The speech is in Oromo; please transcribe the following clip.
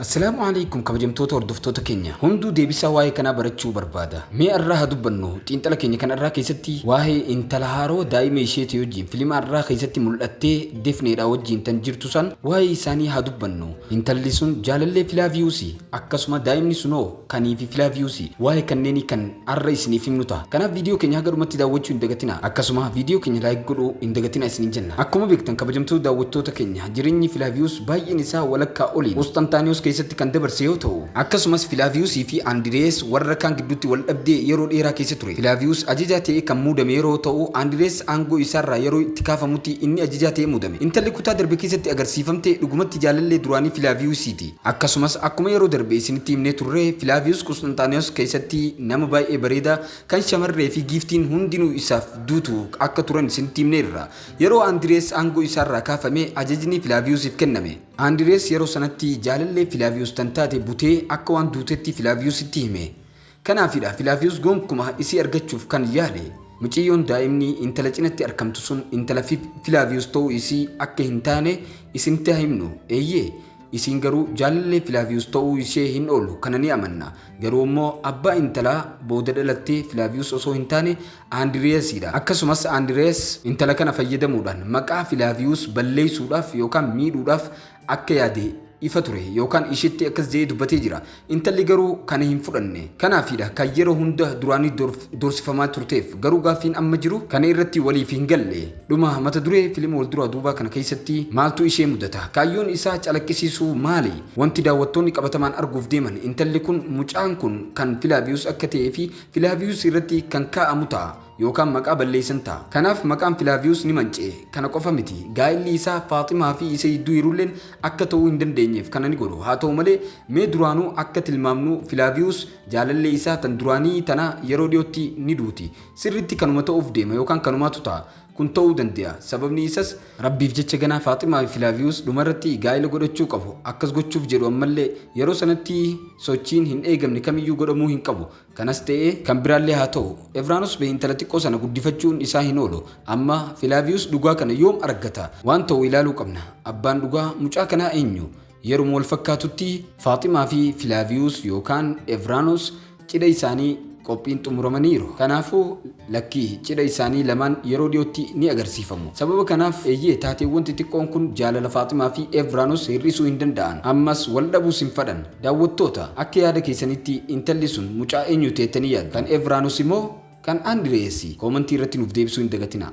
Assalaamu alaikum kabajamtoota hordoftoota keenya hunduu deebisaa waa'ee kanaa barachuu barbaada. Mee arraa haa dubbannu xiinxala keenya kan arraa keessatti waa'ee intala haaroo daa'ima isheetii wajjin filima arraa keessatti mul'attee defneedhaa wajjin tan jirtu san waa'ee isaanii haa dubbannu. Intalli sun jaalallee Filaaviiyuusi akkasuma daa'imni sunoo kanii fi filaaviyuusii waa'ee kanneenii kan har'a isiniif himnu ta'a. Kanaaf viidiyoo keenya haga dhumatti daawwachuu hin dagatina. Akkasuma viidiyoo keenya laayik godhuu hin dagatina isiniin jenna. Akkuma beektan kabajamtoota daawwattoota keenya jireenyi Filaaviyuus baay'een isaa walakkaa oliin Qusxantaaniyoos keessatti kan dabarse yoo ta'u, akkasumas Filaaviyuusii fi Andirees warra kaan gidduutti wal dhabdee yeroo dheeraa keessa ture. Filaaviyuus ajajaa ta'ee kan muudame yeroo ta'u, Andirees aangoo isaarraa yeroo itti kaafamutti inni ajajaa ta'ee muudame. Intalli kutaa darbe keessatti agarsiifamte dhugumatti jaalallee duraanii Filaaviyuusiiti. Akkasumas akkuma yeroo darbe isinitti himnee turre Filaaviyus Qusxinxaaniyoos keessatti nama baay'ee bareedaa kan shamarree fi giiftiin hundinuu isaaf duutu akka turan isinitti himneerra. Yeroo Andirees aangoo isaarraa kaafame ajajni Filaaviyusiif kenname. Andirees yeroo sanatti jaalallee Filaaviyus tan taate butee akka waan duutetti Filaaviyusitti hime. Kanaafidha Filaaviyus gonkuma isii argachuuf kan yaale. Muciyyoon daa'imni intala cinatti arkamtu sun intala Filaaviyus ta'uu isii akka hin taane isinitti haa himnu. Eeyyee, isiin garuu jaalallee Filaaviyus ta'uu ishee hin oolu kana ni amanna. Garuu immoo abbaa intalaa booda dhalattee Filaaviyus osoo hin taane Andiriyasiidha. Akkasumas Andiriyas intala kana fayyadamuudhaan maqaa Filaaviyus balleessuudhaaf yookaan miidhuudhaaf akka yaade ifa ture yookaan isheetti akkas jedhee dubbatee jira. Intalli garuu kana hin fudhanne. Kanaafiidha kan yeroo hunda duraanii doorsifamaa turteef. Garuu gaaffiin amma jiru kana irratti waliif hin galle. Dhuma mata duree filima wal duraa duubaa kana keessatti maaltu ishee mudata? Kaayyoon isaa calaqqisiisuu maali? Wanti daawwattoonni qabatamaan arguuf deeman intalli kun mucaan kun kan Filaaviyus akka ta'ee fi Filaaviyus irratti kan kaa'amu ta'a. yookaan maqaa balleessan ta'a. Kanaaf maqaan Filaaviyus ni manca'e. Kana qofa miti, gaa'illi isaa Faaximaa fi isa jidduu jirulleen akka ta'uu hin dandeenyeef kana ni godhu. Haa ta'u malee, mee duraanuu akka tilmaamnu Filaaviyus jaalallee isaa tan duraanii tana yeroo dhiyootti ni duuti. Sirriitti kanuma ta'uuf deema yookaan kanumaatu ta'a. Kun ta'uu dande'a. Sababni isas. Rabbiif jecha ganaa Faaximaa fi Filaaviyus dhumarratti gaa'ila godhachuu qabu. Akkas gochuuf jedhu ammallee yeroo sanatti sochiin hin eegamne kamiyyuu godhamuu hin qabu. Kanas ta'ee kan biraallee haa ta'u, Evraanus bee intala xiqqoo sana guddifachuun isaa hin oolu. Amma, Filaaviyus dhugaa kana yoom argata? Waan ta'u ilaaluu qabna. Abbaan dhugaa mucaa kanaa eenyu? Yeruma wal fakkaatutti, Faaximaa fi Filaaviyus yookaan Evraanus cidha isaanii qophiin xumuramaniiru. Kanaafuu. Lakkii, cidha isaanii lamaan yeroo dhiyootti ni agarsiifamu. Sababa kanaaf, eeyyee, taateewwan xixiqqoon kun jaalala Faaximaa fi Evranos hir'isuu hin danda'an. Ammas wal dhabuus hin fadhan. Daawwattoota, akka yaada keessanitti intalli sun mucaa eenyuuti jettanii yaaddu? Kan Evraanosi moo kan Andireesi? Koomantii irratti nuuf deebisuu hin dagatinaa.